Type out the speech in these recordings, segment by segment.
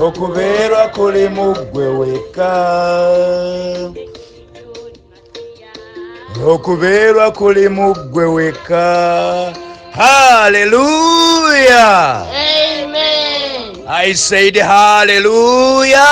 okubeerwa kuli mu ggwe wekka okubeerwa kuli mu ggwe wekka haleluya i said haleluya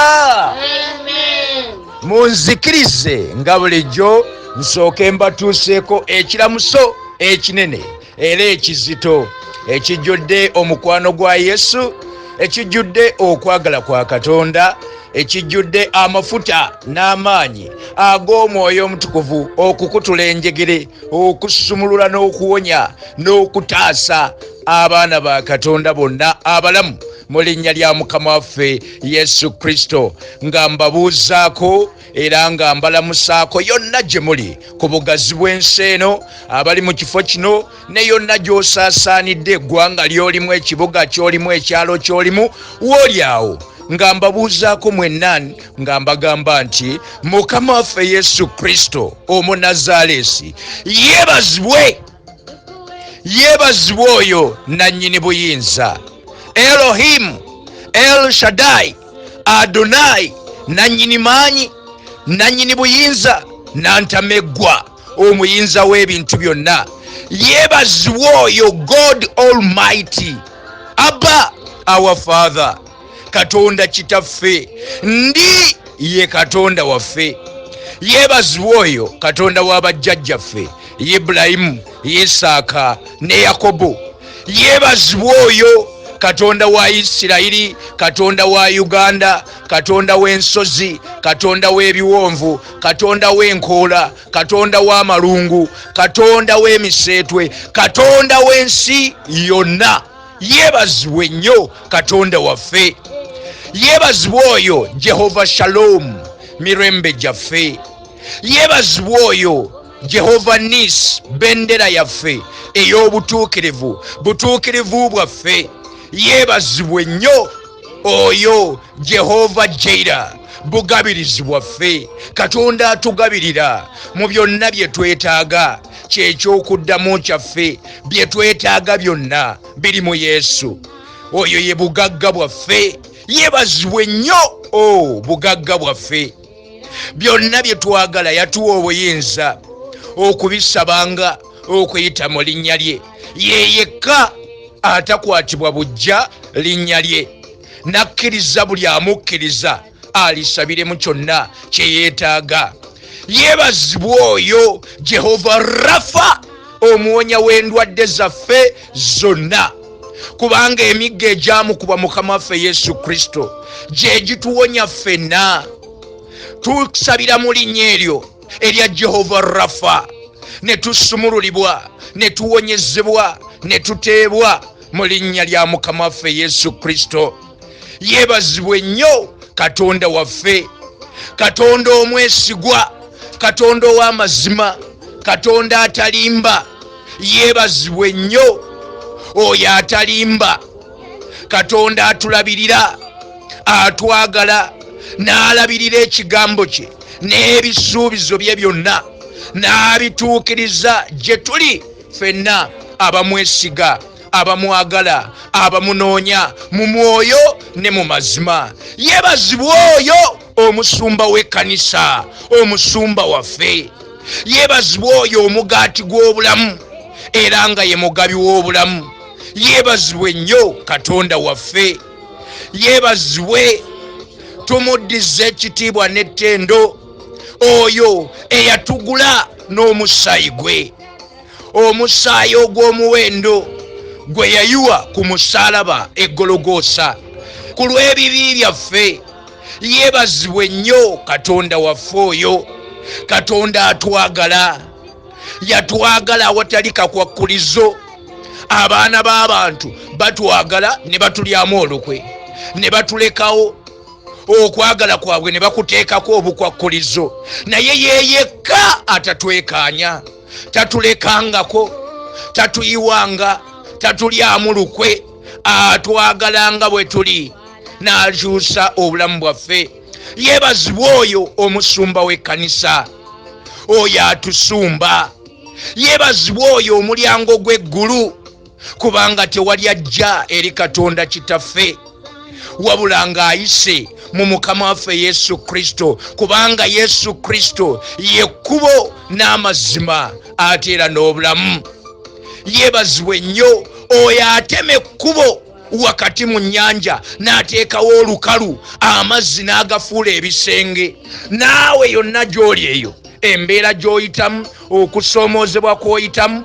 munzikirize nga bulijjo nsooke mbatuuseeko ekiramuso ekinene era ekizito ekijjudde omukwano gwa yesu ekijjudde okwagala kwa katonda ekijjudde amafuta n'amaanyi ag'omwoyo omutukuvu okukutula enjegere okusumulula n'okuwonya n'okutaasa abaana ba katonda bonna abalamu mu linnya lya mukama waffe yesu kristo nga mbabuuzaako era nga mbalamusaako yonna gye muli ku bugazi bw'ensi eno abali mu kifo kino ne yonna gy'osaasaanidde eggwanga ly'olimu ekibuga ky'olimu ekyalo ky'olimu wooli awo nga mbabuuzaako mwenna nga mbagamba nti mukama waffe yesu kristo omunazaaleesi yeebazibwe yeebazibwe oyo nannyini buyinza elohimu el shadai Adonai nannyini maanyi nannyini buyinza nantameggwa omuyinza w'ebintu byonna yeebazibwa oyo god almighty abba our father katonda kitaffe ndi ye katonda waffe yeebazibwa oyo katonda wa bajjajjaffe ibulayimu isaaka ne yakobo yeebazibwa oyo katonda wa isirayiri katonda wa uganda katonda w'ensozi katonda w'ebiwonvu katonda w'enkoola katonda w'amalungu katonda w'emiseetwe katonda w'ensi yonna yeebazibwe nnyo katonda waffe yeebazibwe oyo jehova shalom mirembe gyaffe yeebazibwe oyo jehova nis bendera yaffe ey'obutuukirivu butuukirivu bwaffe yeebazibwe nnyo oyo jehova jaira bugabirizi bwaffe katonda atugabirira mu byonna bye twetaaga kyekyokuddamu kyaffe bye twetaaga byonna biri mu yesu oyo ye bugagga bwaffe yeebazibwe nnyo o oh, bugagga bwaffe byonna bye twagala yatuwa obuyinza okubisabanga okuyita mu linnya lye ye yekka atakwatibwa bujja linnya lye n'akkiriza buli amukkiriza alisabiremu kyonna kye yeetaaga yeebazibwa oyo jehova rafa omuwonya w'endwadde zaffe zonna kubanga emigga egyamukuba mukama waffe yesu kristo gye gituwonya ffenna tusabira mu linnya eryo erya jehova rafa ne tusumululibwa ne tuwonyezebwa ne tuteebwa mu linnya lya mukama waffe yesu kristo yebazibwe nnyo katonda waffe katonda omwesigwa katonda ow'amazima katonda atalimba yebazibwe nnyo oyo atalimba katonda atulabirira atwagala n'alabirira ekigambo kye n'ebisuubizo bye byonna n'abituukiriza gye tuli fenna abamwesiga abamwagala abamunoonya mu mwoyo ne mu mazima yebazibwa oyo omusumba w'ekkanisa omusumba waffe yebazibwa oyo omugaati gw'obulamu era nga ye mugabi w'obulamu yebazibwe nnyo katonda waffe yebazibwe tumuddiza ekitiibwa n'ettendo oyo eyatugula n'omusaayi gwe omusaayi ogw'omuwendo gwe yayiwa ku musaalaba eggologoosa ku lw'ebibi byaffe yeebazibwe nnyo katonda waffe oyo katonda atwagala yatwagala awatali kakwakkulizo abaana b'abantu batwagala ne batulyamu olukwe ne batulekawo okwagala kwabwe ne bakuteekako obukwakkulizo naye yeyekka atatwekaanya tatulekangako tatuyiwanga tatulyamu lukwe atwagalanga bwe tuli n'akyusa obulamu bwaffe yeebazibwa oyo omusumba w'ekkanisa oyo atusumba yeebazibwa oyo omulyango gw'eggulu kubanga tewali ajja eri katonda kitaffe wabula ng'ayise mu mukama waffe yesu kristo kubanga yesu kristo yekkubo n'amazima ate era n'obulamu yebazibwa ennyo oyo atema ekkubo wakati mu nyanja n'ateekawo olukalu amazzi n'agafuula ebisenge naawe yonna gy'oli eyo embeera gy'oyitamu okusoomoozebwa kw'oyitamu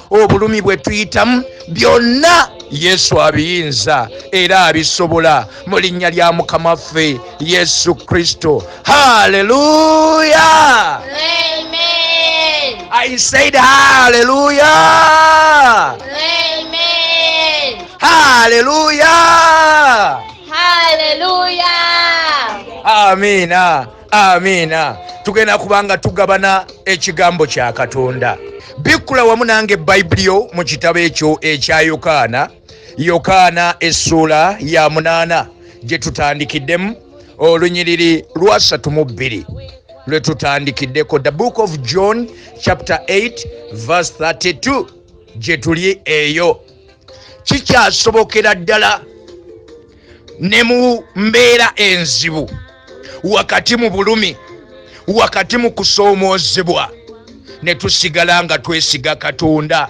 obulumi bwe tuyitamu byonna yesu abiyinza era abisobola mu linnya lya mukama waffe yesu kristo haleluya i said haleluya haleluya amina amiina tugenda kubanga tugabana ekigambo kya katonda bikkula wamu nange bayibuli yo mu kitabo ekyo ekya yokaana yokaana essuula ya munaana gye tutandikiddemu olunyiriri lwasatu mu bbiri lwe tutandikiddeko the book of john chapter 8 verse 32 gye tuli eyo kikyasobokera ddala ne mu mbeera enzibu wakati mu bulumi wakati mu kusoomoozebwa ne tusigala nga twesiga katonda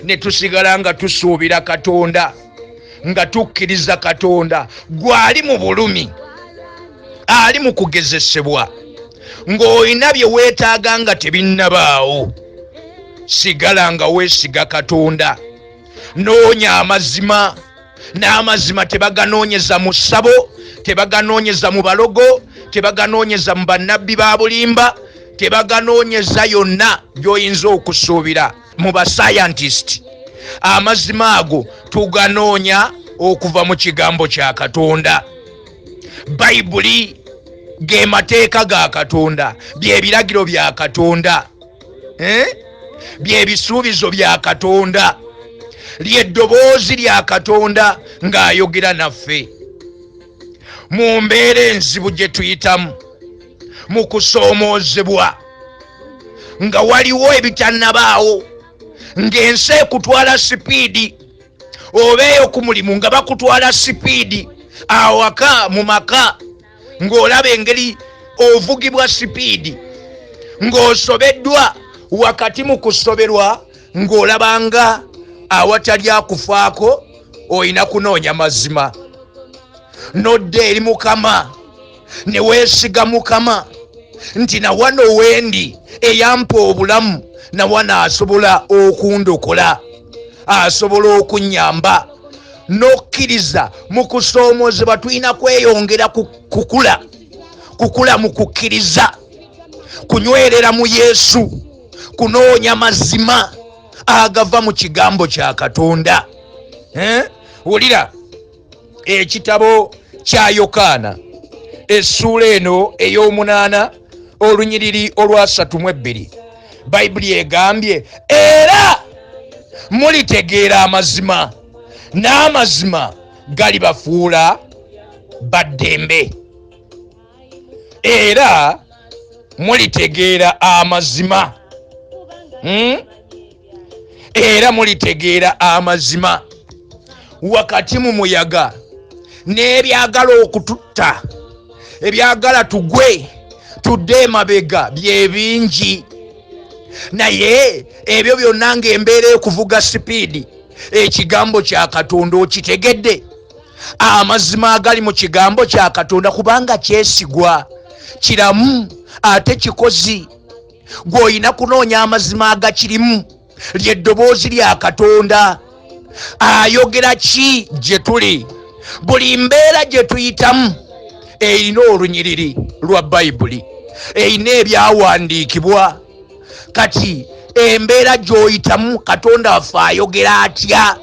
ne tusigala nga tusuubira katonda nga tukkiriza katonda gwali mu bulumi ali mu kugezesebwa ng'olina bye weetaaga nga tebinnabaawo sigala nga weesiga katonda noonya amazima n'amazima tebaganoonyeza mu ssabo tebaganoonyeza mu balogo tebaganoonyeza mu bannabbi ba bulimba tebaganoonyeza yonna gy'oyinza okusuubira mu basayantisiti amazima ago tuganoonya okuva mu kigambo kya katonda bayibuli ge mateeka ga katonda byebiragiro bya katonda eh? byebisuubizo bya katonda lyeddoboozi lya katonda ng'ayogera naffe mu mbeera enzibu gye tuyitamu mu kusoomoozebwa nga waliwo ebitannabaawo ng'ensi ekutwala sipiidi oba eyo ku mulimu nga bakutwala sipiidi awaka mu maka ng'olaba engeri ovugibwa sipiidi ng'osobeddwa wakati mu kusoberwa ng'olabanga awatali akufaako olina kunoonya mazima nodda eri mukama ne weesiga mukama nti nawano wendi eyampa obulamu nawano asobola okundokola asobola okunnyamba n'okkiriza mu kusoomoozebwa tulina kweyongera kukula kukula mu kukkiriza kunywerera mu yesu kunoonya mazima agava mu kigambo kya katonda eh? wulira ekitabo kya yokaana essuula eno ey'omunaana olunyiriri olwasatu mu ebbiri bayibuli egambye era mulitegeera amazima n'amazima galibafuula baddembe era mulitegeera amazima hmm? era mulitegeera amazima wakati mu muyaga n'ebyagala okututta ebyagala tugwe tudde emabega byebingi naye ebyo byonna ngaembeera ekuvuga sipiidi ekigambo kya katonda okitegedde amazima agali mu kigambo kya katonda kubanga kyesigwa kiramu ate kikozi gw'olina kunoonya amazima agakirimu lyeddoboozi lya katonda ayogera ki gye tuli buli mbeera gye tuyitamu erina olunyiriri lwa bayibuli erina ebyawandiikibwa kati embeera gy'oyitamu katonda waffe ayogera atya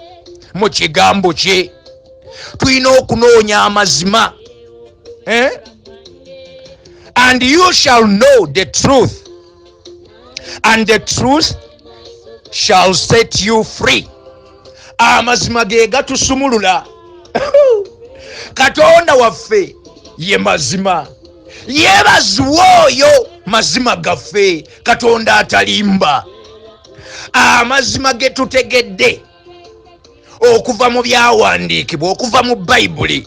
mu kigambo kye tulina okunoonya amazima eh? and you shall know the truth and the truth shall set you free amazima ge gatusumulula katonda waffe ye mazima yebaziwa oyo mazima gaffe katonda atalimba amazima ge tutegedde okuva mu byawandiikibwa okuva mu bayibuli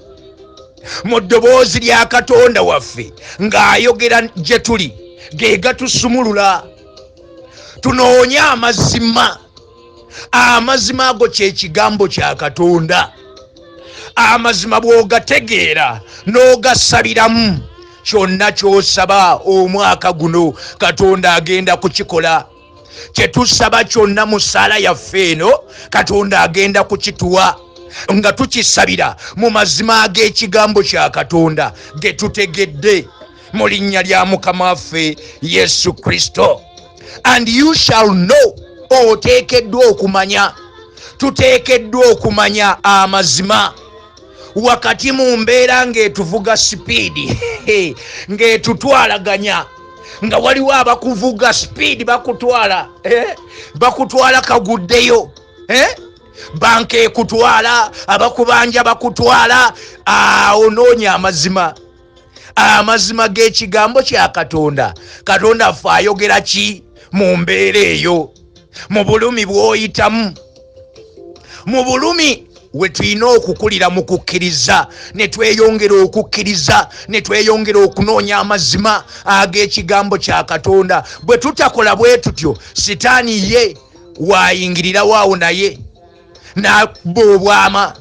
mu ddoboozi lya katonda waffe ng'ayogera gye tuli ge gatusumulula tunoonye amazima amazima ago kyekigambo kya katonda amazima bwogategeera n'ogasabiramu kyonna kyosaba omwaka guno katonda agenda kukikola kyetusaba kyonna mu ssaala yaffe eno katonda agenda kukituwa nga tukisabira mu mazima ag'ekigambo kya katonda getutegedde mu linnya lya mukama waffe yesu kristo and you shall know oteekeddwa okumanya tuteekeddwa okumanya amazima wakati mu mbeera ng'etuvuga sipiidi ng'etutwalaganya nga waliwo abakuvuga sipiidi bakutwala eh? bakutwala kaguddeyo eh? banka ekutwala abakubanja bakutwala awo ah, noonya amazima amazima g'ekigambo kya katonda katonda ffe ayogera ki mu mbeera eyo mu bulumi bw'oyitamu mu bulumi we tulina okukulira mu kukkiriza ne tweyongera okukkiriza ne tweyongera okunoonya amazima ag'ekigambo kya katonda bwe tutakola bwe tutyo sitaani ye waayingirirawo awo naye n'abba obwama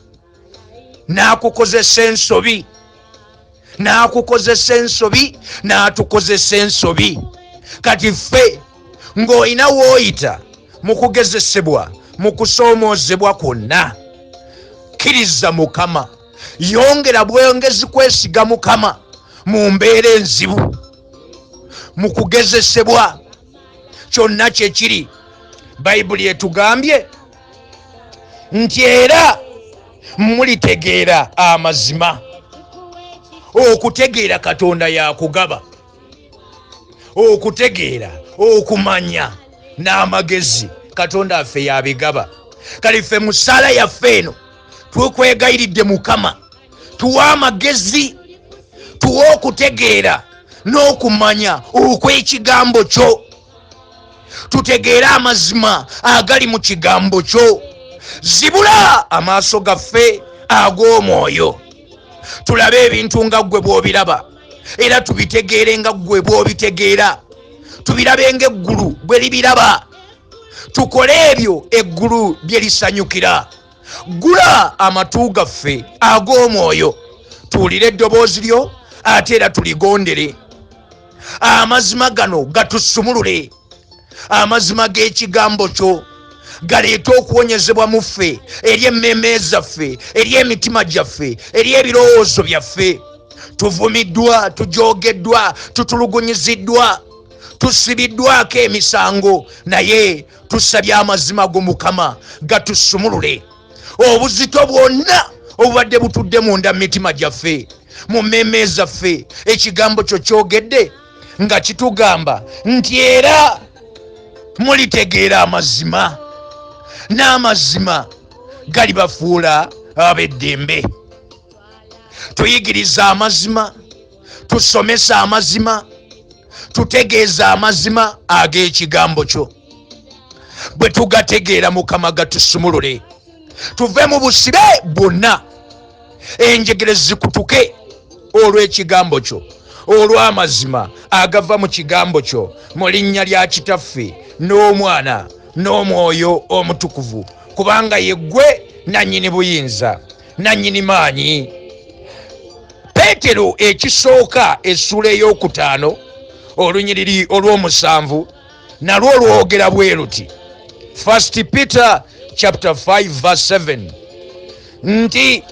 n'akukozesa ensobi n'akukozesa ensobi n'atukozesa ensobi kati ffe ng'olina wooyita mu kugezesebwa mu kusoomoozebwa kwonna kkiriza mukama yongera bwongezi kwesiga mukama mu mbeera enzibu mu kugezesebwa kyonna kye kiri bayibuli etugambye nti era mulitegeera amazima okutegeera katonda yakugaba okutegeera okumanya n'amagezi katonda affe yabigaba kale ffe musaala yaffe eno twekwegayiridde mukama tuwa amagezi tuwa okutegeera n'okumanya okw'ekigambo kyo tutegeere amazima agali mu kigambo kyo zibula amaaso gaffe ag'omwoyo tulabe ebintu nga ggwe bw'obiraba era tubitegeere nga ggwe bw'obitegeera tubirabe nga eggulu bwe libiraba tukole ebyo eggulu bye lisanyukira ggula amatu gaffe ag'omwoyo tuwulire eddoboozi lyo ate era tuligondere amazima gano gatusumulule amazima g'ekigambo kyo galeete okuwonyezebwa mu ffe eri emmeeme zaffe eri emitima gyaffe eri ebirowoozo byaffe tuvumiddwa tujogeddwa tutulugunyiziddwa tusibiddwako emisango naye tusabye amazima go mukama gatusumulule obuzito bwonna obubadde butudde munda mu mitima gyaffe mu mmeeme zaffe ekigambo kyo kyogedde nga kitugamba nti era mulitegeera amazima n'amazima galibafuula ab'eddembe tuyigiriza amazima tusomesa amazima tutegeeza amazima ag'ekigambo kyo bwe tugategeera mukama gatusumulule tuve mu busibe bwonna enjegere zikutuke olw'ekigambo kyo olw'amazima agava mu kigambo kyo mu linnya lya kitaffe n'omwana n'omwoyo omutukuvu kubanga yeggwe nannyini buyinza nannyini maanyi peetero ekisooka essuula ey'okutaano olunyiriri olw'omusanvu nalwo lwogera bwe luti first peter chapter 5 verse 7 nti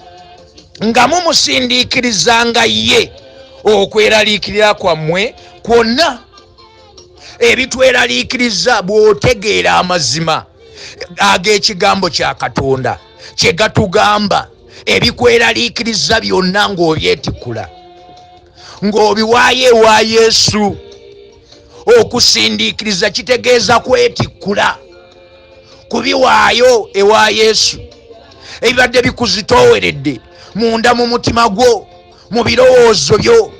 nga mumusindiikirizanga ye okweraliikirira kwammwe kwonna ebitweraliikiriza bw'otegeera amazima ag'ekigambo kya katonda kye gatugamba ebikweraliikiriza byonna ng'obyetikula ng'obiwaayo ewa yesu okusindiikiriza kitegeeza kwetikkula kubiwaayo ewa yesu ebibadde bikuzitooweredde munda mu mutima gwo mu birowoozo byo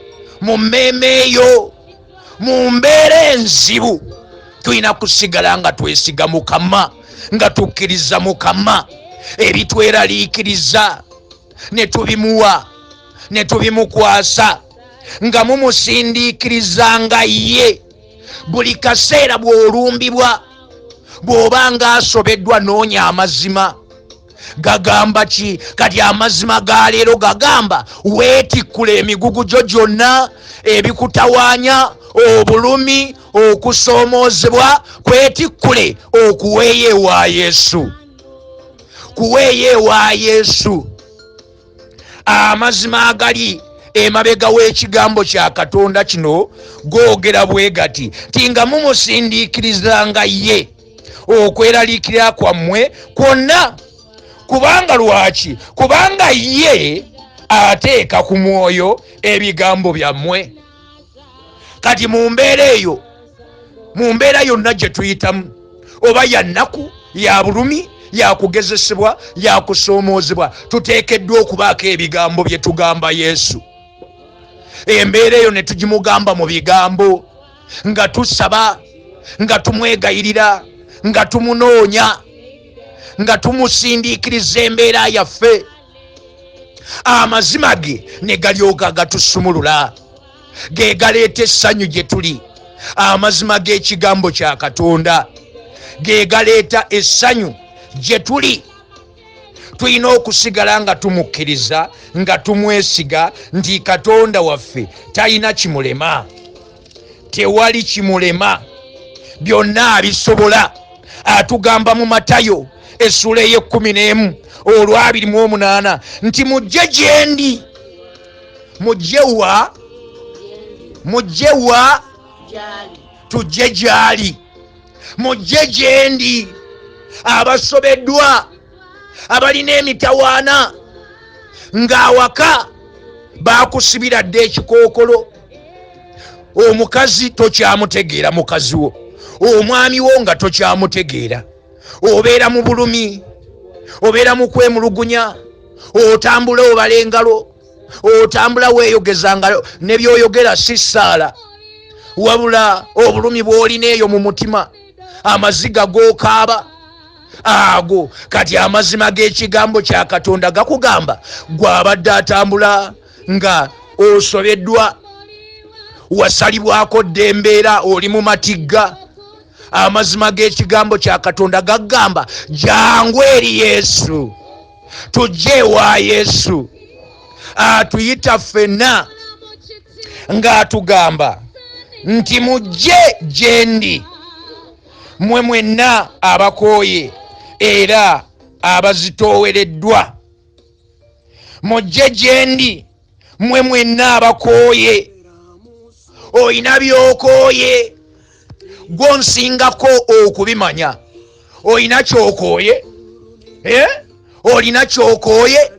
mu mmeeme yo mu mbeera enzibu tulina kusigala nga twesiga mukama nga tukkiriza mukama ebitweraliikiriza ne tubimuwa ne tubimukwasa nga mumusindiikiriza nga ye buli kaseera bw'olumbibwa bw'oba ng'asobeddwa noonya amazima gagamba ki kati amazima ga leero gagamba weetikkula emigugu gyo gyonna ebikutawaanya obulumi okusoomoozebwa kwetikkule okuweeyo ewa yesu kuweeyo ewa yesu amazima agali emabega w'ekigambo kya katonda kino googera bwe gati ti nga mumusindiikirizanga ye okweraliikirira kwammwe kwonna kubanga lwaki kubanga ye ateeka ku mwoyo ebigambo byammwe kati mu mbeera eyo mu mbeera yonna gye tuyitamu oba ya nnaku ya bulumi yakugezesebwa yakusoomoozebwa tuteekeddwa okubaako ebigambo bye tugamba yesu embeera eyo ne tugimugamba mu bigambo nga tusaba nga tumwegayirira nga tumunoonya nga tumusindiikiriza embeera yaffe amazima ge ne galyoka gatusumulula ge galeeta essanyu gye tuli amazima g'ekigambo kya katonda ge galeeta essanyu gye tuli tulina okusigala nga tumukkiriza nga tumwesiga nti katonda waffe talina kimulema tewali kimulema byonna abisobola atugamba mu matayo essula ey'ekkumi n'emu olwabiri mu omunaana nti mujje gyendi mujje wa mujje wa tujje gyali mujje gyendi abasobeddwa abalina emitawaana ng'awaka baakusibira dda ekikookolo omukazi tokyamutegeera mukazi wo omwami wo nga tokyamutegeera obeera mu bulumi obeera mu kwemulugunya otambula obala engalo otambula weeyogeza nga ne byoyogera si ssaala wabula obulumi bw'olina eyo mu mutima amaziga g'okaaba ago kati amazima g'ekigambo kya katonda gakugamba gw'abadde atambula nga osobeddwa wasalibwako dda embeera oli mu matigga amazima g'ekigambo kya katonda gagamba jangu eri yesu tujje ewa yesu atuyita ffenna ng'atugamba nti mujje gyendi mmwe mwenna abakooye era abazitoowereddwa mujje gye ndi mmwe mwenna abakooye olina byokooye gwo nsingako okubimanya olina kyokooye eh? olina kyokooye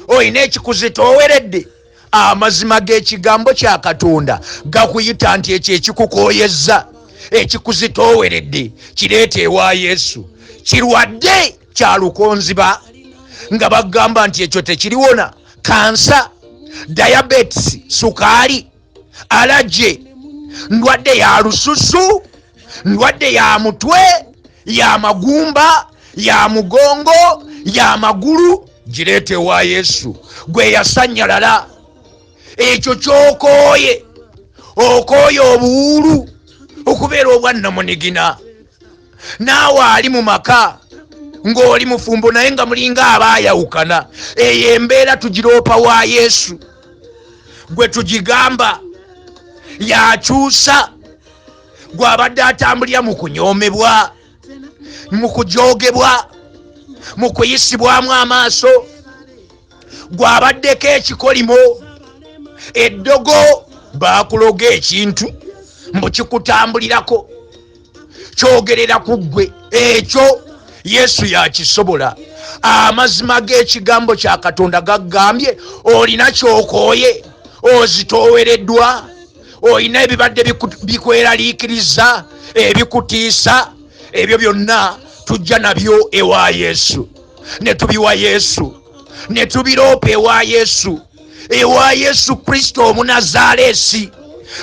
olina ekikuzitooweredde amazima g'ekigambo kya katonda gakuyita nti ekyo ekikukooyezza ekikuzitooweredde kireeta ewa yesu kirwadde kya lukonziba nga bagamba nti ekyo tekiriwona kansa diabetes sukaali alaje ndwadde ya lususu ndwadde ya mutwe ya magumba ya mugongo ya magulu gireeta ewa yesu gwe yasanyalala ekyo kyokooye okooye obuwuulu okubeera obwannamunigina naawe ali mu maka ng'oli mufumbo naye nga mulinga aba ayawukana eyo embeera tugiroopa wa yesu gwe tugigamba yakyusa gw'abadde atambulira mu kunyoomebwa mu kujoogebwa mu kuyisibwamu amaaso gw'abaddeko ekikolimo eddogo baakuloga ekintu mbu kikutambulirako kyogerera ku ggwe ekyo yesu yakisobola amazima g'ekigambo kya katonda gaggambye olina kyokooye ozitoowereddwa olina ebibadde bikweraliikiriza ebikutiisa ebyo byonna tujja nabyo ewa yesu ne tubiwa yesu ne tubiroopa ewa yesu ewa yesu kristo omunazaaleesi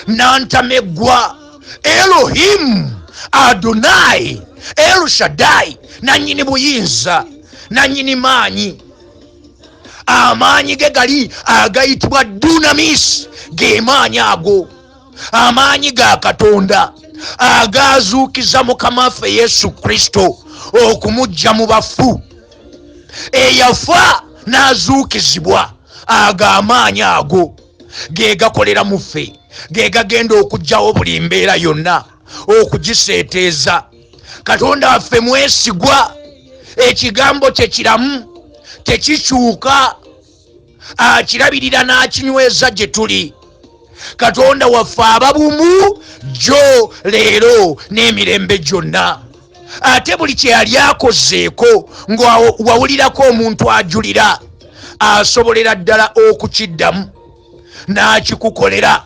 nantameggwa elohimu adonai elushadai nannyini buyinza nannyini maanyi amaanyi ge gali agayitibwa dunamis ge maanyi ago amaanyi ga katonda agaazuukiza mukama waffe yesu kristo okumujja mu bafu eyafa n'azuukizibwa ago amaanyi ago ge gakolera mu ffe ge gagenda okugyawo buli mbeera yonna okugiseeteeza katonda waffe mwesigwa ekigambo kye kiramu tekikyuka akirabirira n'akinyweza gye tuli katonda waffe ababumu jjo leero n'emirembe gyonna ate buli kye yali akozeeko ng'awawulirako omuntu ajulira asobolera ddala okukiddamu n'akikukolera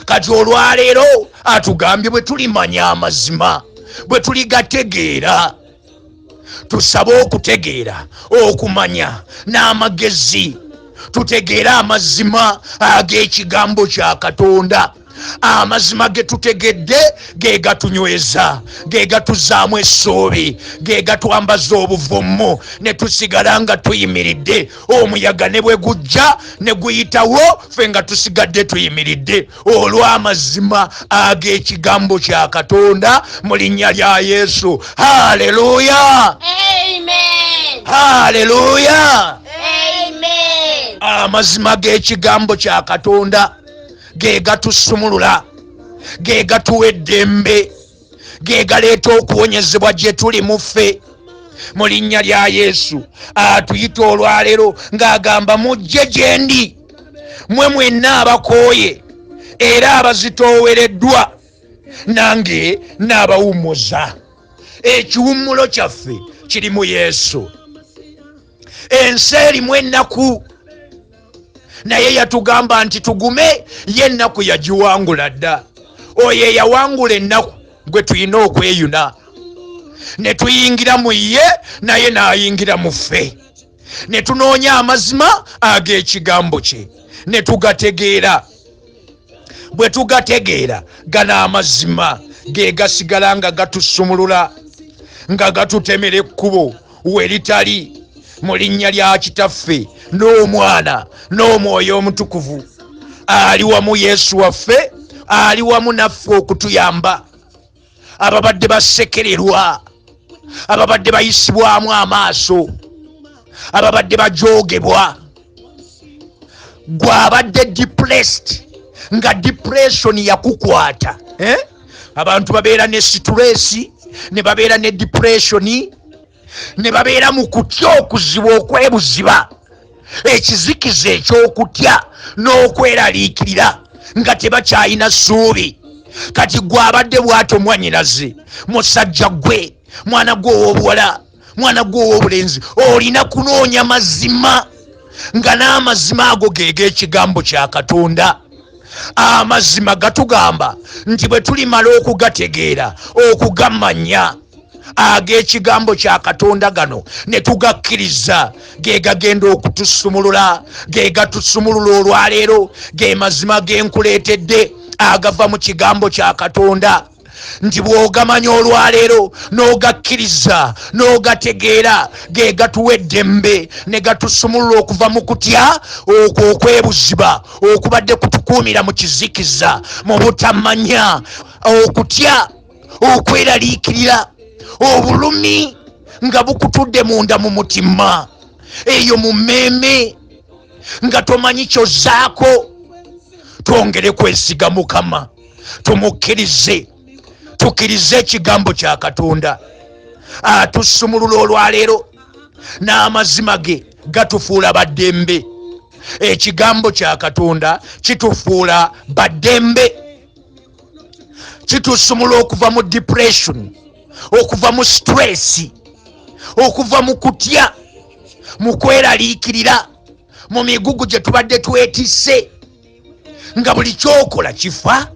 kati olwaleero atugambye bwe tulimanya amazima bwe tuligategeera tusabe okutegeera okumanya n'amagezi tutegeere amazima ag'ekigambo kya katonda amazima ge tutegedde ge gatunyweza ge gatuzaamu essuubi ge gatwambaza obuvumu ne tusigala nga tuyimiridde omuyaga ne bwe gujja ne guyitawo ffe nga tusigadde tuyimiridde olw'amazima ag'ekigambo kya katonda mu linnya lya yesu haleluya haleluya amazima g'ekigambo kya katonda ge gatusumulula ge gatuwa eddembe ge galeeta okuwonyezebwa gye tuli mu ffe mu linnya lya yesu atuyita olwaleero ng'agamba mujje gye ndi mwe mwenna abakooye era abazitoowereddwa nange n'abawummuza ekiwummulo kyaffe kiri mu yesu ensi erimu ennaku naye yatugamba nti tugume ye ennaku yagiwangula dda oyo eyawangula ennaku gwe tulina okweyuna ne tuyingira mu ye naye n'ayingira mu ffe ne tunoonya amazima ag'ekigambo kye ne tugategeera bwe tugategeera gano amazima ge gasigala nga gatusumulula nga gatutemera ekkubo we litali mu linnya lya kitaffe n'omwana n'omwoyo omutukuvu ali wamu yesu waffe ali wamu naffe okutuyamba ababadde basekererwa ababadde bayisibwamu amaaso ababadde bajoogebwa gwe abadde depressed nga depression yakukwata eh? abantu babeera ne situleesi ne babeera ne depressioni ne babeera mu kutya okuziba okwebuziba ekizikiza eky'okutya n'okweraliikirira nga tebakyalina ssuubi kati gwe abadde bwato mwanyinaze musajja gwe mwana gwe ow'obuwala mwana gwe ow'obulenzi olina kunoonya mazima nga n'amazima ago ge g'ekigambo kya katonda amazima gatugamba nti bwe tulimala okugategeera okugamanya ag'ekigambo kya katonda gano ne tugakkiriza ge gagenda okutusumulula ge gatusumulula olwaleero ge mazima ge nkuleetedde agava mu kigambo kya katonda nti bw'ogamanya olwaleero n'ogakkiriza n'ogategeera ge gatuwa eddembe ne gatusumulula okuva mu kutya okwo okwebuziba okubadde kutukuumira mu kizikiza mu butamanya okutya okweraliikirira obulumi nga bukutudde munda mu mutima eyo mu mmeeme nga tomanyi kyozzaako twongere kwesiga mukama tumukkirize tukirize ekigambo kya katonda atusumulula olwaleero n'amazima ge gatufuula baddembe ekigambo kya katonda kitufuula baddembe kitusumula okuva mu depression okuva mu stress okuva mu kutya mu kweraliikirira mu migugu gye tubadde twetisse nga buli kyokola kifa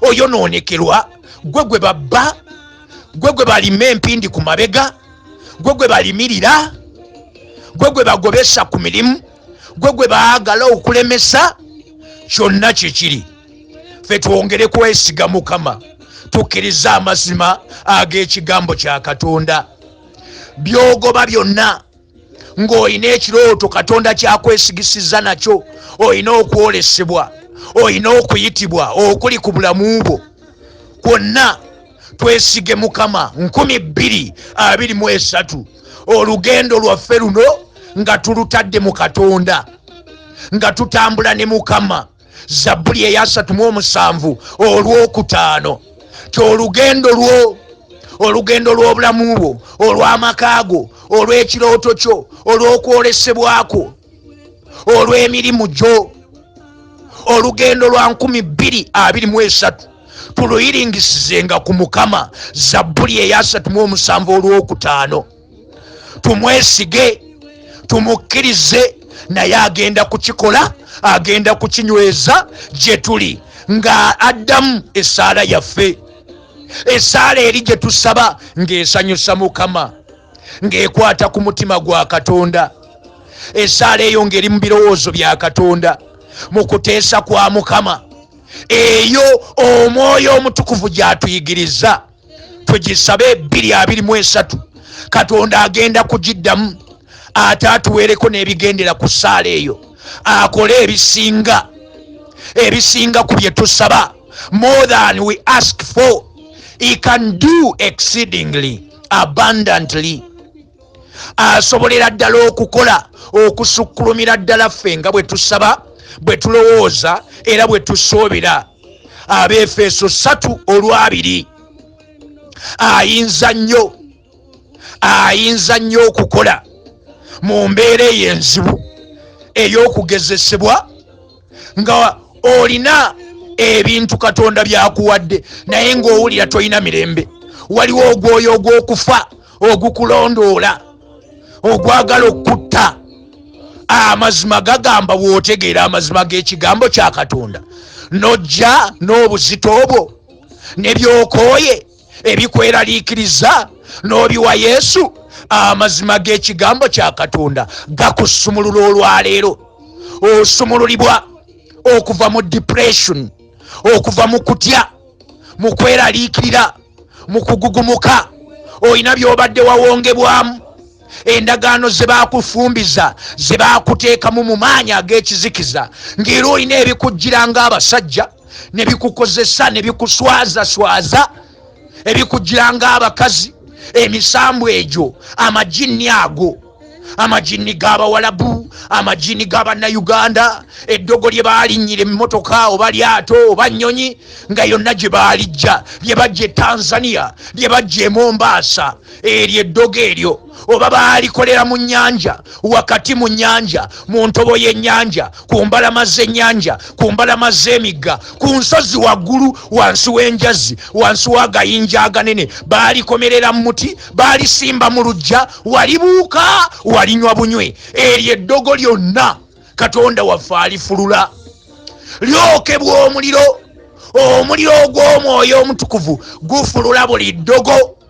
oyonoonekerwa gwe gwe babba gwe gwe balima empindi ku mabega gwe gwe balimirira gwe gwe bagobesa ku mirimu gwe gwe baagala okulemesa kyonna kye kiri ffe twongere kwesiga mukama tukkirize amazima ag'ekigambo kya katonda byogoba byonna ng'olina ekirooto katonda kyakwesigisizza nakyo olina okwolesebwa olina okuyitibwa okuli ku bulamu bwo kwonna twesige mukama 223 olugendo lwaffe luno nga tulutadde mu katonda nga tutambula ne mukama zabbuli eyasatu mu omusanvu olwokutaano kyolugendo lwo olugendo lw'obulamu bwo olw'amaka go olw'ekirooto kyo olw'okwolesebwako olw'emirimu gyo olugendo lwa nkumi bbiri abiri mu esatu tuluyiringisizenga ku mukama zabbuli eyasatu mu omusanvu olw'okutaano tumwesige tumukkirize naye agenda kukikola agenda kukinyweza gye tuli nga addamu essaala yaffe esaala eri gye tusaba ng'esanyusa mukama ng'ekwata ku mutima gwa katonda esaala eyo ng'eri mu birowoozo bya katonda mu kuteesa kwa mukama eyo omwoyo omutukuvu gy'atuyigiriza tugisabe ebbiri abiri mu esatu katonda agenda kugiddamu ate atuweereko n'ebigendera ku saala eyo akole ebisinga ebisinga ku bye tusaba more than we ask for he can do exceedingly abundantly asobolera ddala okukola okusukkulumira ddala ffe nga bwe tusaba bwe tulowooza era bwe tusuubira abeefeeso satu olwabiri ayinza nnyo ayinza nnyo okukola mu mbeera eyo enzibu ey'okugezesebwa nga olina ebintu katonda byakuwadde naye ng'owulira tolina mirembe waliwo ogwoyo ogw'okufa ogukulondoola ogwagala okukutta amazima gagamba bw'otegeera amazima g'ekigambo kya katonda nojja n'obuzito obwo ne byokooye ebikweraliikiriza n'obiwa yesu amazima g'ekigambo kya katonda gakusumulula olwaleero osumululibwa okuva mu depression okuva mu kutya mu kweraliikirira mu kugugumuka olina by'obadde wawongebwamu endagaano ze baakufumbiza ze baakuteekamu mu maanyi ag'ekizikiza ng'era olina ebikujjira ng'abasajja ne bikukozesa ne bikuswazaswaza ebikujjira ng'abakazi emisambu egyo amajinni ago amajinni g'abawalabu amajinni g'abannayuganda eddogo lye baalinnyira emmotoka oba lyato oba nnyonyi nga yonna gye baalijja lye bajja e tanzania lye bajja e mombaasa eryo eddogo eryo oba baalikolera mu nnyanja wakati mu nnyanja mu ntobo y'ennyanja ku mbalama z'ennyanja ku mbalama z'emigga ku nsozi waggulu wansi w'enjazi wansi w'agayinja aganene baalikomerera mu muti baalisimba mu lujja walibuuka walinywa bunywe eryo eddogo lyonna katonda waffe alifulula lyokebwa omuliro omuliro ogw'omwoyo omutukuvu gufulula buli ddogo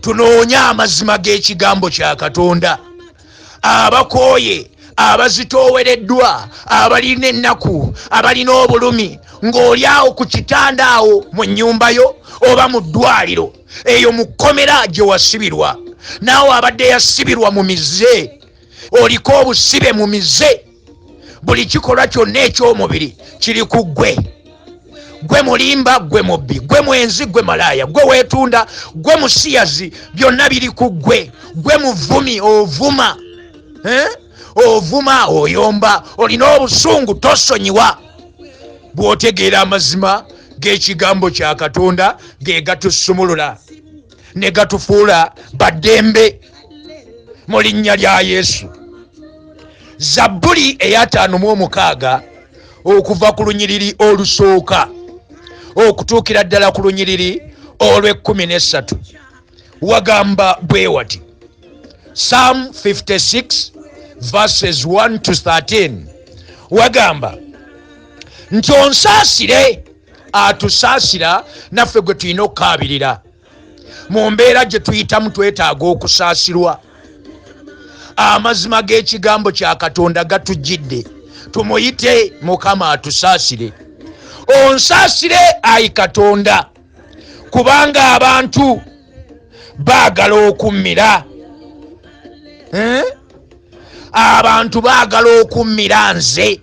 tunoonye amazima g'ekigambo kya katonda abakooye abazitoowereddwa abalina ennaku abalina obulumi ng'oli awo ku kitanda awo mu nnyumba yo oba mu ddwaliro eyo mu kkomera gye wasibirwa naawe abadde yasibirwa mu mize oliko obusibe mu mize buli kikolwa kyonna eky'omubiri kiri ku ggwe gwe mulimba gwe mubbi gwe mwenzi gwe malaaya gwe weetunda gwe musiyazi byonna biri ku ggwe gwe muvumi ovuma eh? ovuma oyomba olina obusungu tosonyiwa bw'otegeera amazima g'ekigambo kya katonda ge gatusumulula ne gatufuula baddembe mu linnya lya yesu zabbuli eyataano mu omukaaga okuva ku lunyiriri olusooka okutuukira ddala ku lunyiriri olw'ekkumi n'essatu wagamba bwe wati psalm 56 verses 1 to 13 wagamba nti onsaasire atusaasira naffe gwe tulina okukaabirira mu mbeera gye tuyitamu twetaaga okusaasirwa amazima g'ekigambo kya katonda gatujjidde tumuyite mukama atusaasire onsaasire ayi katonda kubanga abantu baagala okummira eh? abantu baagala okummira nze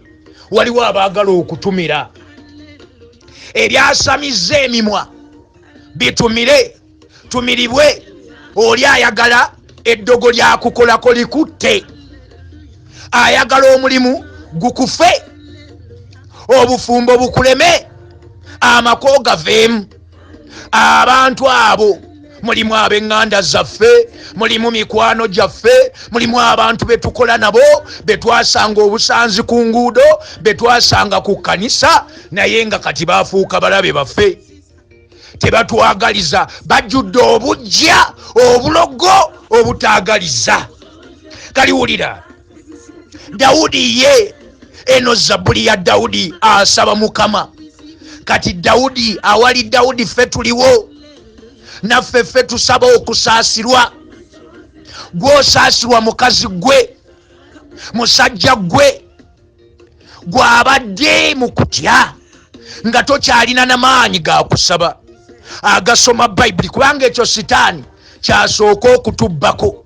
waliwo abaagala okutumira ebyasamizza emimwa bitumire tumiribwe oli ayagala eddogo lyakukolako likutte ayagala omulimu gukufe obufumbo bukuleme amako gaveemu abantu abo mulimu ab'eŋŋanda zaffe mulimu mikwano gyaffe mulimu abantu be tukola nabo be twasanga obusanzi ku nguudo be twasanga ku kkanisa naye nga kati baafuuka balabe baffe tebatwagaliza bajjudde obujja obulogo obutaagaliza kaliwulira dawudi ye eno zabuli ya dawudi asaba mukama kati dawudi awali dawudi ffe tuliwo naffe ffe tusaba okusaasirwa gwosaasirwa mukazi gwe musajja gwe gwabadde mu kutya nga tokyalina na maanyi ga kusaba agasoma bayibuli kubanga ekyo sitaani kyasooka okutubbako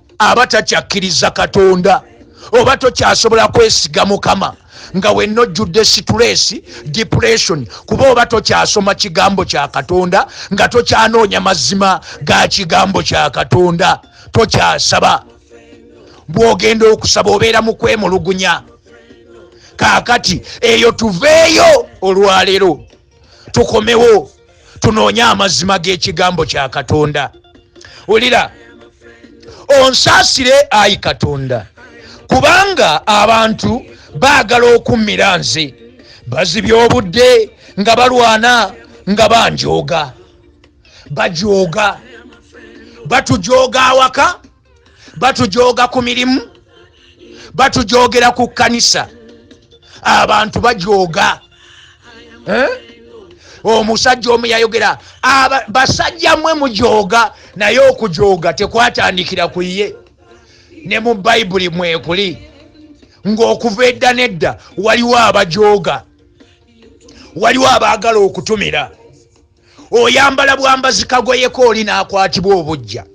aba takyakkiriza katonda oba tokyasobola kwesiga mukama nga wenna ojjudde situleesi depression kuba oba tokyasoma kigambo kya katonda nga tokyanoonya mazima ga kigambo kya katonda tokyasaba bwogenda okusaba obeera mu kwemulugunya kaakati eyo tuveeyo olwaleero tukomewo tunoonye amazima g'ekigambo kya katonda wulira onsaasire ayi katonda kubanga abantu baagala okummira nze bazibya obudde nga balwana nga banjooga bajooga batujooga awaka batujooga ku mirimu batujoogera ku kkanisa abantu bajooga eh? omusajja omu yayogera basajja mwe mujooga naye okujooga tekwatandikira ku ye ne mu bayibuli mwekuli ng'okuva edda nedda waliwo abajooga waliwo abaagala okutumira oyambala bwambazi kagoyeko oli nakwatibwa obujja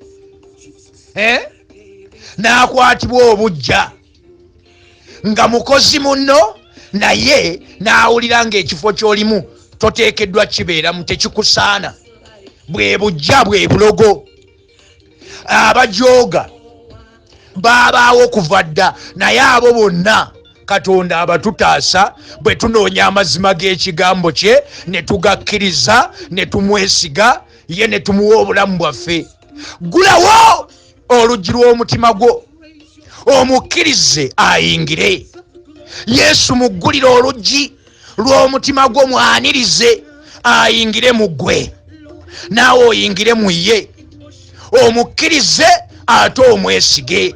eh? nakwatibwa obujja nga mukozi munno naye nawulira nga ekifo kyolimu toteekeddwa kibeeramu tekikusaana bwe bujja bwe bulogo abajooga baabaawo kuva dda naye abo bonna katonda abatutaasa bwe tunoonya amazima g'ekigambo kye ne tugakkiriza ne tumwesiga ye ne tumuwa obulamu bwaffe gulawo oluggi lw'omutima gwo omukkirize ayingire yesu muggulire oluggi lw'omutima gwo mwanirize ayingire mu ggwe naawe oyingire mu ye omukkirize ate omwesige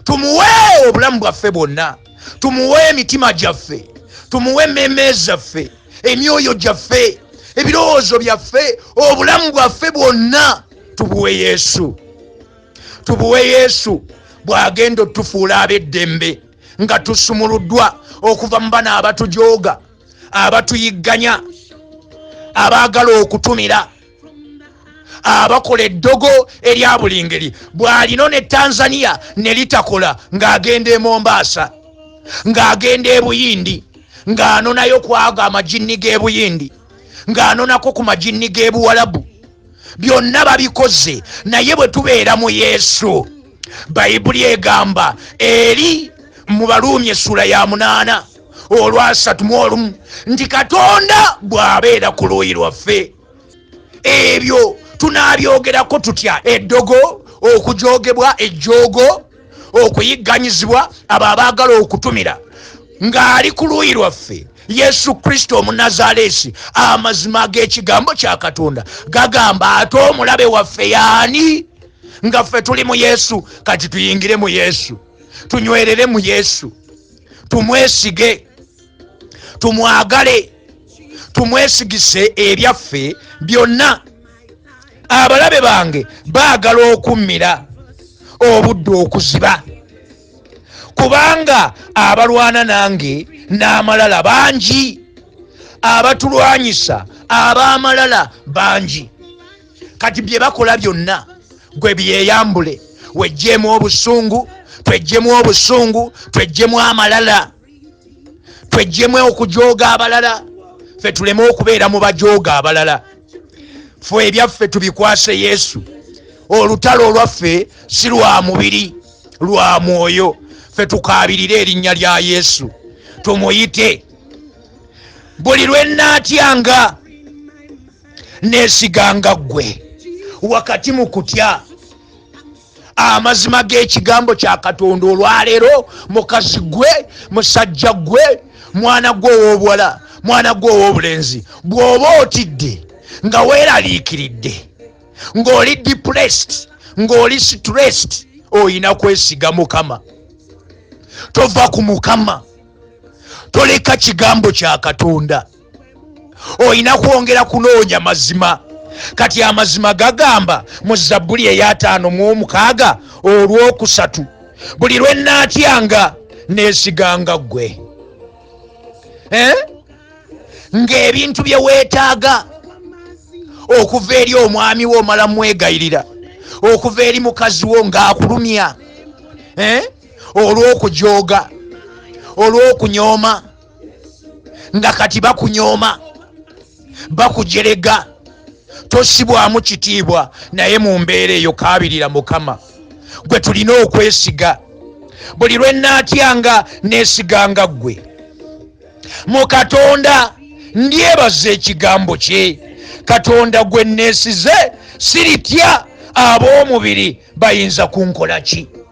tumuwe obulamu bwaffe bwonna tumuwe emitima gyaffe tumuwe emmeeme zaffe emyoyo gyaffe ebirowoozo byaffe obulamu bwaffe bwonna tubuwe yesu tubuwe yesu bw'agenda otufuula ab'eddembe nga tusumuluddwa okuva mu bana abatujooga abatuyigganya abaagala okutumira abakola eddogo erya buli ngeri bw'alino ne tanzania ne litakola ng'agenda e mombaasa ng'agenda e buyindi ng'anonayo kwago amajinni g'e buyindi ng'anonako ku majinni g'e buwalabu byonna babikoze naye bwe tubeera mu yesu bayibuli egamba eri mu baluumi essula ya munaana olwasatu mu olumu nti katonda bw'abeera ku luuyi lwaffe ebyo tunaabyogerako tutya eddogo okujogebwa ejjoogo okuyigganyizibwa abo abaagala okutumira ng'ali ku luuyi lwaffe yesu kristo omunazaleesi amazima g'ekigambo kya katonda gagamba ate omulabe waffe yaani nga ffe tuli mu yesu kati tuyingire mu yesu tunywerere mu yesu tumwesige tumwagale tumwesigise ebyaffe byonna abalabe bange baagala okummira obudde okuziba kubanga abalwana nange n'amalala bangi abatulwanyisa ab'amalala bangi kati byebakola byonna gwe byeyambule wejjemu obusungu twejjemu obusungu twejjemu amalala twejjemu okujooga abalala fe tuleme okubeera mu bajooga abalala fe ebyaffe tubikwase yesu olutalo olwaffe si lwa mubiri lwa mwoyo fe tukaabirire erinnya lya yesu tumuyite buli lwe nnaatyanga nesiganga ggwe wakati mu kutya amazima g'ekigambo kya katonda olwaleero mukazi gwe musajja gwe mwana gwe ow'obuwala mwana gwe ow'obulenzi bw'oba otidde nga weeraliikiridde ng'oli depressed ng'oli stressed olina kwesiga mukama tova ku mukama toleka kigambo kya katonda olina kwongera kunoonya mazima kati amazima gagamba mu zabbuli eyataano mu omukaaga olwokusatu buli lwe naatyanga neesiganga ggwe eh? ng'ebintu bye weetaaga okuva eri omwami wo omala mwegayirira okuva eri mukazi wo ng'akulumya eh? olw'okujooga olw'okunyooma nga kati bakunyooma bakujerega tosibwamu kitiibwa naye mu mbeera eyo kabirira mukama gwe tulina okwesiga buli lwe naatyanga neesiganga ggwe mu katonda ndyebaza ekigambo kye katonda gwe nneesize siritya ab'omubiri bayinza kunkola ki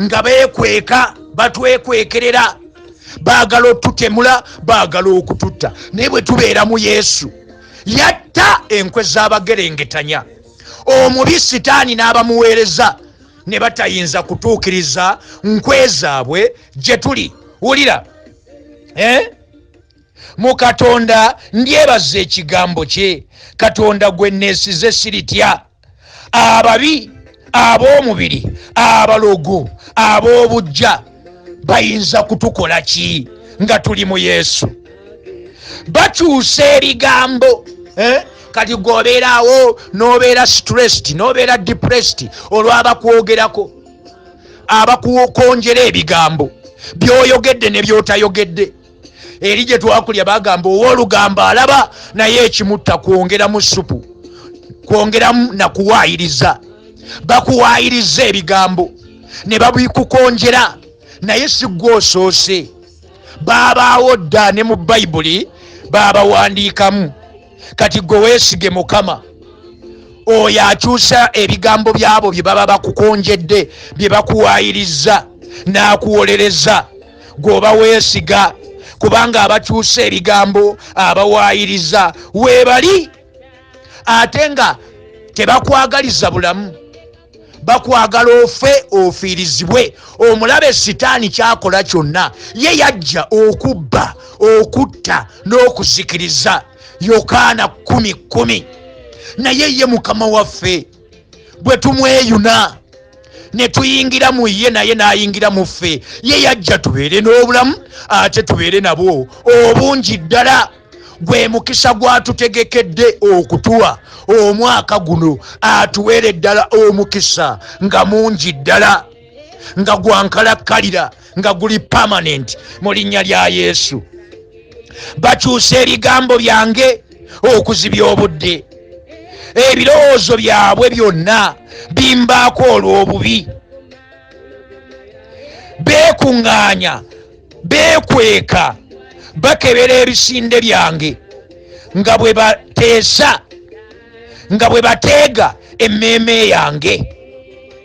nga bekweka batwekwekerera baagala otutemula baagala okututta naye bwe tubeera mu yesu yatta enkwe z'abagerengetanya omubi sitaani n'abamuweereza ne batayinza kutuukiriza nkwe zaabwe gye tuli wulira eh? mu katonda ndyebaza ekigambo kye katonda gwe neesize siritya ababi ab'omubiri abalogo ab'obujja bayinza kutukola ki nga tuli mu yesu bakyusa ebigambo eh? kati gweobeeraawo n'obeera stressed n'obeera depressed olw'abakwogerako abakukonjera ebigambo byoyogedde ne byotayogedde eri gye twakulya bagamba ow'olugambo alaba naye ekimutta kwongeramu supu kwongeramu na kuwaayiriza bakuwaayiriza ebigambo ne babikukonjera naye si gwe osoose baabaawo dda ne mu bayibuli baabawandiikamu kati gwe weesige mukama oyo akyusa ebigambo byabo bye baba bakukonjedde bye bakuwaayiriza n'akuwolereza gwoba weesiga kubanga abakyusa ebigambo abawaayiriza weebali ate nga tebakwagaliza bulamu bakwagala ofe ofiirizibwe omulabe sitaani kyakola kyonna ye yajja okubba okutta n'okuzikiriza yokaana 1 1 naye ye mukama waffe bwe tumweyuna ne tuyingira mu ye naye n'ayingira mu ffe ye yajja tubeere n'obulamu ate tubeere nabwo obungi ddala gwe mukisa gwatutegekedde okutuwa omwaka guno atuweere ddala omukisa nga mungi ddala nga gwankalakkalira nga guli pamanenti mu linnya lya yesu bakyusa ebigambo byange okuzibya obudde ebirowoozo byabwe byonna bimbaako olw'obubi beekuŋŋaanya beekweka bakebera ebisinde byange nga bwe bateesa nga bwe bateega emmeeme yange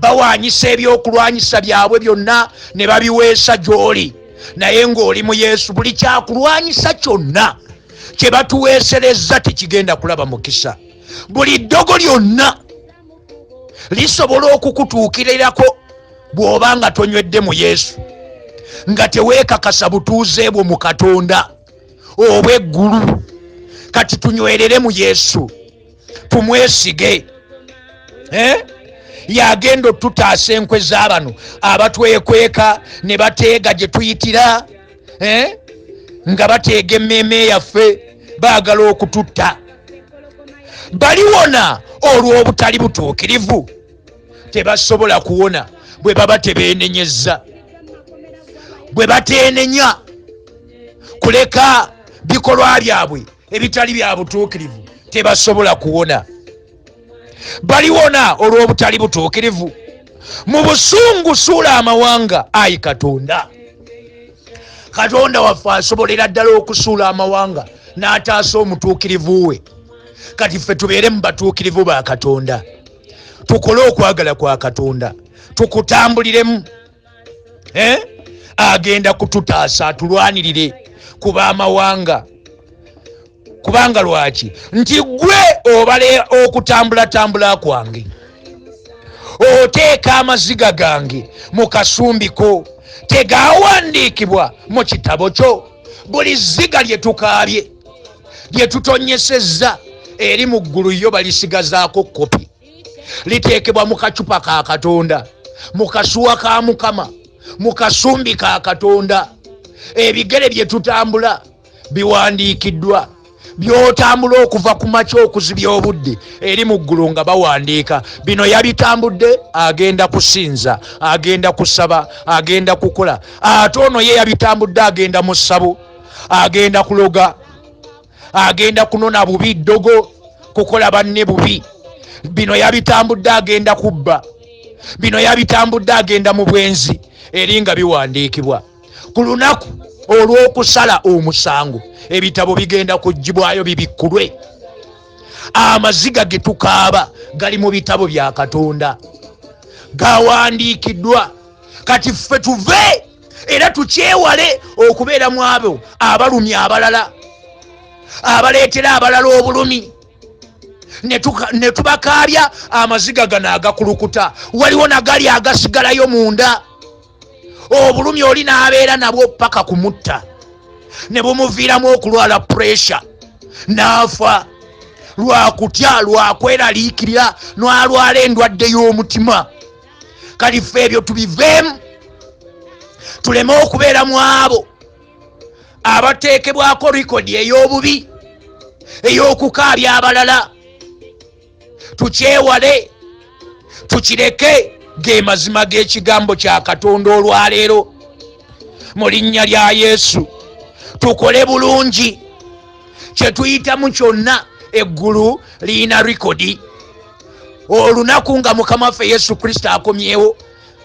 bawaanyisa ebyokulwanyisa byabwe byonna ne babiweesa gy'oli naye ng'oli mu yesu buli kyakulwanyisa kyonna kye batuweeserezza tekigenda kulaba mukisa buli ddogo lyonna lisobola okukutuukirirako bw'oba nga tonywedde mu yesu nga teweekakasa butuuze bwo mu katonda obw'eggulu kati tunywerere mu yesu tumwesige eh? yagenda otutaasa enkwe zabano abatwekweka ne bateega gye tuyitira eh? nga bateega emmeeme yaffe baagala okututta baliwona olw'obutali butuukirivu tebasobola kuwona bwe baba tebeenenyezza bwe bateenenya kuleka bikolwa byabwe ebitali bya butuukirivu tebasobola kuwona baliwona olw'obutali butuukirivu mu busungu suula amawanga ayi katonda katonda waffe asobolera ddala okusuula amawanga n'ataasa omutuukirivu we kati ffe tubeere mu batuukirivu ba katonda tukole okwagala kwa katonda tukutambuliremu eh? agenda kututaasa atulwanirire ku bamawanga kubanga lwaki nti gwe obale okutambulatambula kwange oteeka amaziga gange mu kasumbiko tegawandiikibwa mu kitabo kyo buli ziga lye tukaabye lye tutonyesezza eri mu ggulu yo balisigazaako kopi liteekebwa mu kacupa ka katonda mu kasuwa ka mukama mu kasumbi ka katonda ebigere bye tutambula biwandiikiddwa byotambula okuva ku makya okuzibya obudde eri mu ggulu nga bawandiika bino yabitambudde agenda kusinza agenda kusaba agenda kukola ate ono ye yabitambudde agenda mu ssabo agenda kuloga agenda kunona bubi ddogo kukola banne bubi bino yabitambudde agenda kubba bino yabitambudde agenda mu bwenzi eri nga biwandiikibwa ku lunaku olw'okusala omusango ebitabo bigenda kugibwayo bibikkulwe amaziga ge tukaaba gali mu bitabo bya katonda gawandiikiddwa kati ffe tuve era tukyewale okubeera mu abo abalumi abalala abaleetera abalala obulumi ne tubakaabya amaziga gano agakulukuta waliwo nagali agasigalayo munda obulumi oli n'abeera nabwo paka kumutta ne bumuviiramu okulwala puresure n'afa lwakutya lwakweraliikirira n'alwala endwadde y'omutima kati fe ebyo tubiveemu tuleme okubeera mu abo abateekebwako rikodi ey'obubi ey'okukaabya abalala tukyewale tukireke ge mazima g'ekigambo kya katonda olwaleero mu linnya lya yesu tukole bulungi kyetuyitamu kyonna eggulu liyina rikodi olunaku nga mukama waffe yesu kristo akomyewo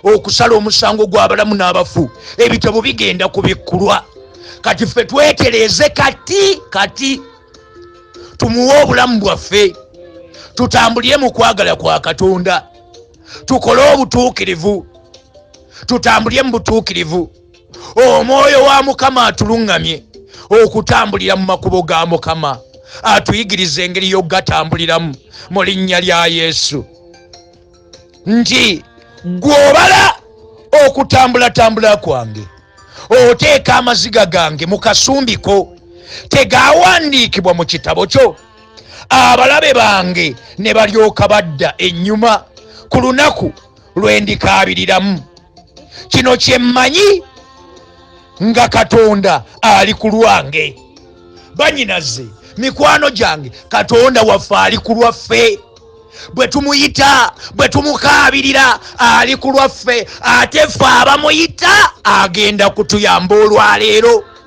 okusala omusango gw'abalamu n'abafu ebitabo bigenda kubikkulwa kati ffe twetereeze kati kati tumuwe obulamu bwaffe tutambulire mu kwagala kwa katonda tukole obutuukirivu tutambulire mu butuukirivu omwoyo wa mukama atuluŋŋamye okutambulira mu makubo ga mukama atuyigiriza engeri y'okugatambuliramu mu linnya lya yesu nti gw'obala okutambulatambula kwange oteeka amaziga gange mu kasumbiko tegawandiikibwa mu kitabo kyo abalabe bange ne balyoka badda ennyuma ku lunaku lwe ndikaabiriramu kino kye mmanyi nga katonda ali ku lwange banyinaze mikwano gyange katonda waffe ali ku lwaffe bwe tumuyita bwe tumukaabirira ali ku lwaffe ate ffe abamuyita agenda kutuyamba olwaleero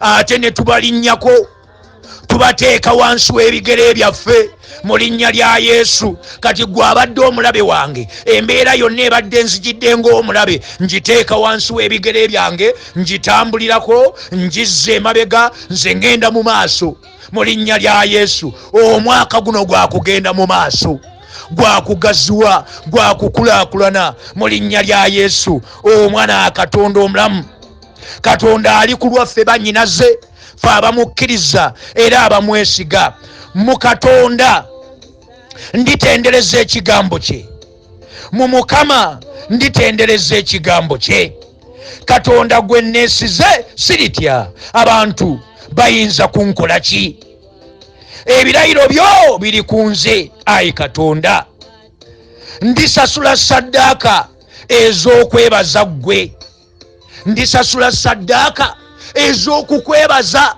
ate ne tubalinnyako tubateeka wansi w'ebigere byaffe mu linnya lya yesu kati gwe abadde omulabe wange embeera yonna ebadde nzijidde ng'omulabe ngiteeka wansi w'ebigere byange ngitambulirako ngizza emabega nze ŋŋenda mu maaso mu linnya lya yesu omwaka guno gwa kugenda mu maaso gwakugaziwa gwakukulakulana mu linnya lya yesu omwana akatonda omulamu katonda ali ku lwaffe banyinaze fe abamukkiriza era abamwesiga mu katonda nditendereza ekigambo kye mu mukama nditendereza ekigambo kye katonda gwe neesize siritya abantu bayinza kunkola ki ebirayiro byo biri ku nze ayi katonda ndisasula saddaaka ez'okwebaza ggwe ndisasula saddaaka ez'okukwebaza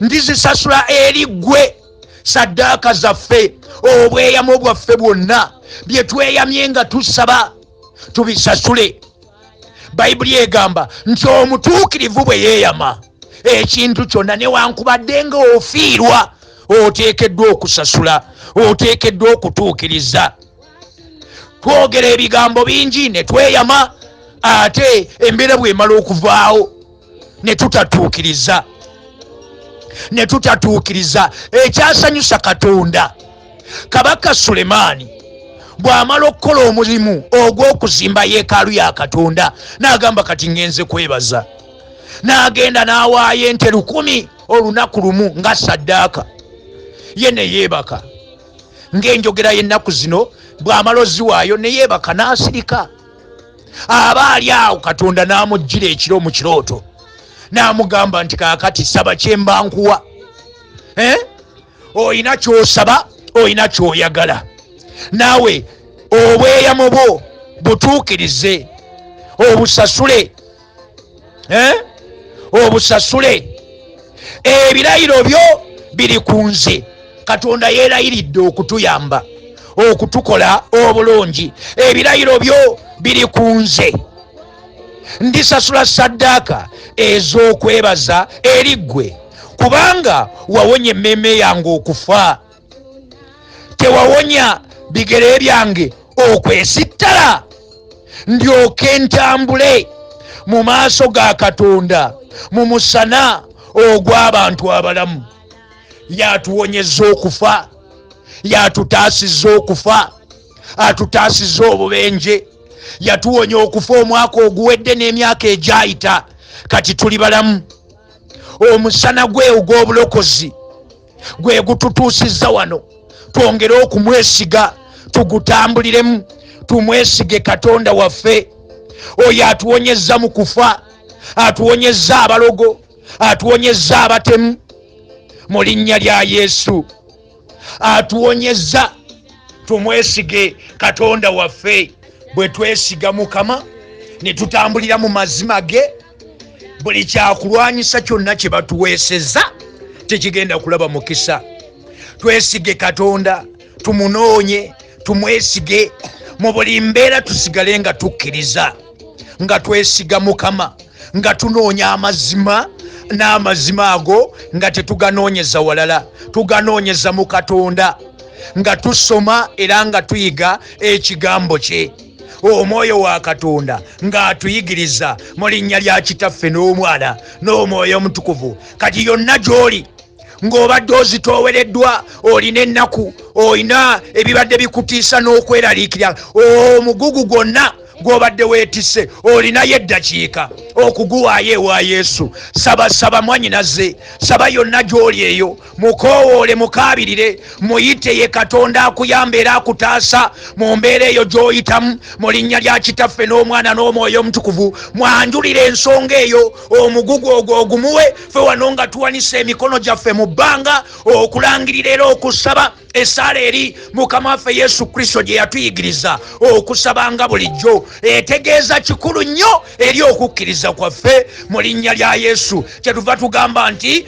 ndizisasula eri ggwe saddaaka zaffe obweyamo bwaffe bwonna bye tweyamye nga tusaba tubisasule bayibuli egamba nti omutuukirivu bwe yeeyama ekintu kyonna newankubadde nga ofiirwa oteekeddwa okusasula oteekeddwa okutuukiriza twogera ebigambo bingi ne tweyama ate embeera bwemala okuvaawo ne tutatuukiriza ne tutatuukiriza ekyasanyusa katonda kabaka sulemaani bw'amala okukola omulimu ogw'okuzimba yeekaalu ya katonda n'agamba kati ŋŋenze kwebaza n'agenda n'awaayo ente lukumi olunaku lumu nga saddaaka ye ne yeebaka ng'enjogera y'ennaku zino bw'amala oziwaayo ne yeebaka n'asirika aba ali awo katonda n'amujjira ekiro mu kirooto n'amugamba nti kaakati saba kye mba nkuwa eh? olina ky'osaba olina ky'oyagala naawe obweyamo bwo butuukirize obusasule eh? obusasule ebirayiro byo biri ku nze katonda yeerayiridde okutuyamba okutukola obulungi ebirayiro byo biri ku nze ndisasula saddaaka ez'okwebaza eri ggwe kubanga wawonya emmeeme yange okufa tewawonya bigere byange okwesittala ndyoke ntambule mu maaso ga katonda mu musana ogw'abantu abalamu yatuwonyeza okufa yatutaasiza okufa atutaasiza obubenje yatuwonya okufa omwaka oguwedde n'emyaka egyayita kati tuli balamu omusana gwe ogw'obulokozi gwe gututuusizza wano twongere okumwesiga tugutambuliremu tumwesige katonda waffe oyo atuwonyezza mu kufa atuwonyezza abalogo atuwonyezza abatemu mu linnya lya yesu atuwonyezza tumwesige katonda waffe bwe twesiga mukama ne tutambulira mu mazima ge buli kyakulwanyisa kyonna kye batuweeseza tekigenda kulaba mukisa twesige katonda tumunoonye tumwesige mu buli mbeera tusigale nga tukkiriza nga twesiga mukama nga tunoonya amazima n'amazima ago nga tetuganoonyeza walala tuganoonyeza mu katonda nga tusoma era nga tuyiga ekigambo kye omwoyo wa katonda ng'atuyigiriza mu linnya lya kitaffe n'omwana n'omwoyo omutukuvu kati yonna gy'oli ng'obadde ozitoowereddwa olina ennaku olina ebibadde bikutiisa n'okweraliikira omugugu gwonna gw'obadde weetise olinayo eddakiika okuguwaayo ewa yesu sabasaba mwanyinaze saba yonna gy'oli eyo mukoowoole mukaabirire muyite ye katonda akuyamba era akutaasa mu mbeera eyo gy'oyitamu mu linnya lya kitaffe n'omwana n'omwoyo omutukuvu mwanjulire ensonga eyo omugugu ogwo ogumuwe fe wano nga tuwanisa emikono gyaffe mu bbanga okulangirira era okusaba esaala eri mukama waffe yesu kristo gye yatuyigiriza okusabanga bulijjo etegeeza kikulu nnyo eri okukkiriza kwaffe mu linnya lya yesu kyetuva tugamba nti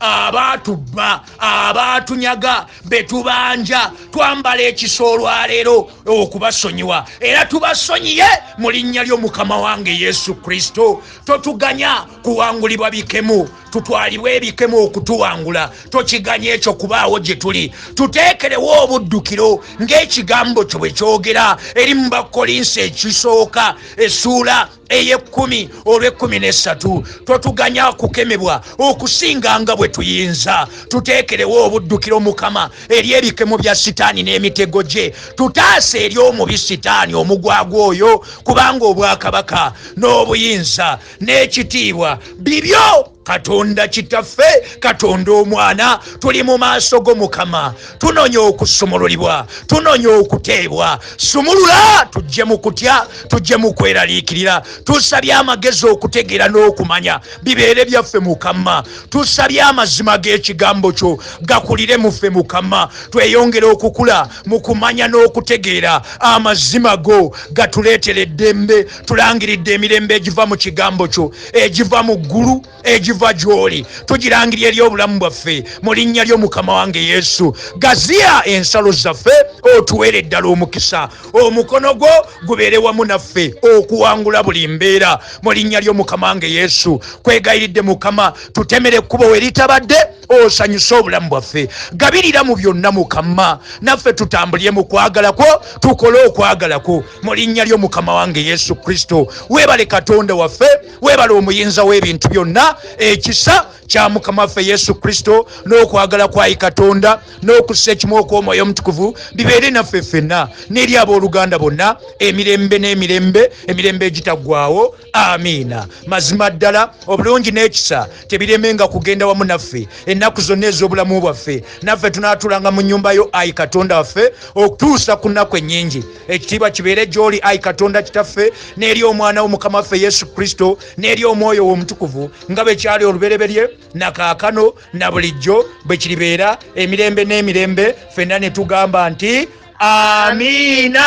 abaatubba abaatunyaga be tubanja twambala ekisa olwaleero okubasonyiwa era tubasonyiye mu linnya lyo mukama wange yesu kristo totuganya kuwangulibwa bikemu tutwalibwa ebikemu okutuwangula tokiganya ekyo kubaawo gye tuli tuteekerewo obuddukiro ng'ekigambo kyo bwe kyogera eri mu bakolinsi ekisooka esuula ey'ekkumi olw'ekkumi n'essatu totuganya kukemebwa okusinga nga bwe tuyinza tuteekerewo obuddukiro mukama eri ebikemo bya sitaani n'emitego gye tutaase eri omubi sitaani omugwagwa oyo kubanga obwakabaka n'obuyinza n'ekitiibwa bibyo katonda kitaffe katonda omwana tuli mu maaso go mukama tunonya okusumululibwa tunonya okuteebwa sumulula tujje mu kutya tujje mu kweraliikirira tusabye amagezi okutegeera n'okumanya bibeere byaffe mukama tusabye amazima g'ekigambo kyo gakulire muffe mukama tweyongere okukula mu kumanya n'okutegeera amazima go gatuleetera eddembe tulangiridde emirembe egiva mu kigambo kyo egiva mu ggulu egiva gy'oli tugirangira eri obulamu bwaffe mu linnya lyo mukama wange yesu gaziya ensalo zaffe otuweere ddala omukisa omukono gwo gubeere wamu naffe okuwangula buli mbeera mu linnya lyo mukama wange yesu kwegayiridde mukama tutemere ekkubo we litabadde osanyuse obulamu bwaffe gabirira mu byonna mukama naffe tutambulire mu kwagala kwo tukole okwagala kwo mu linnya lyo mukama wange yesu kristo weebale katonda waffe weebale omuyinza w'ebintu byonna ekisa kya mukama waffe yesu kristo n'okwagala kwayi katonda n'okussa ekimu okw'omwoyo omutukuvu bibeere naffe ffenna n'eri ab'oluganda bonna emirembe n'emirembe emirembe egitaggwawo amiina mazima ddala obulungi n'ekisa tebiremenga kugenda wamu naffe ennaku zonna ez'obulamu bwaffe naffe tunaatulanga mu nnyumba yo ayi katonda waffe okutuusa ku nnaku ennyingi ekitiibwa kibeere gy'oli ayi katonda kitaffe n'eri omwana wo mukama waffe yesu kristo n'eri omwoyo w'omutukuvu nga bwe kyali olubereberye na kaakano na bulijjo bwe kiribeera emirembe n'emirembe fenna ne tugamba nti amiina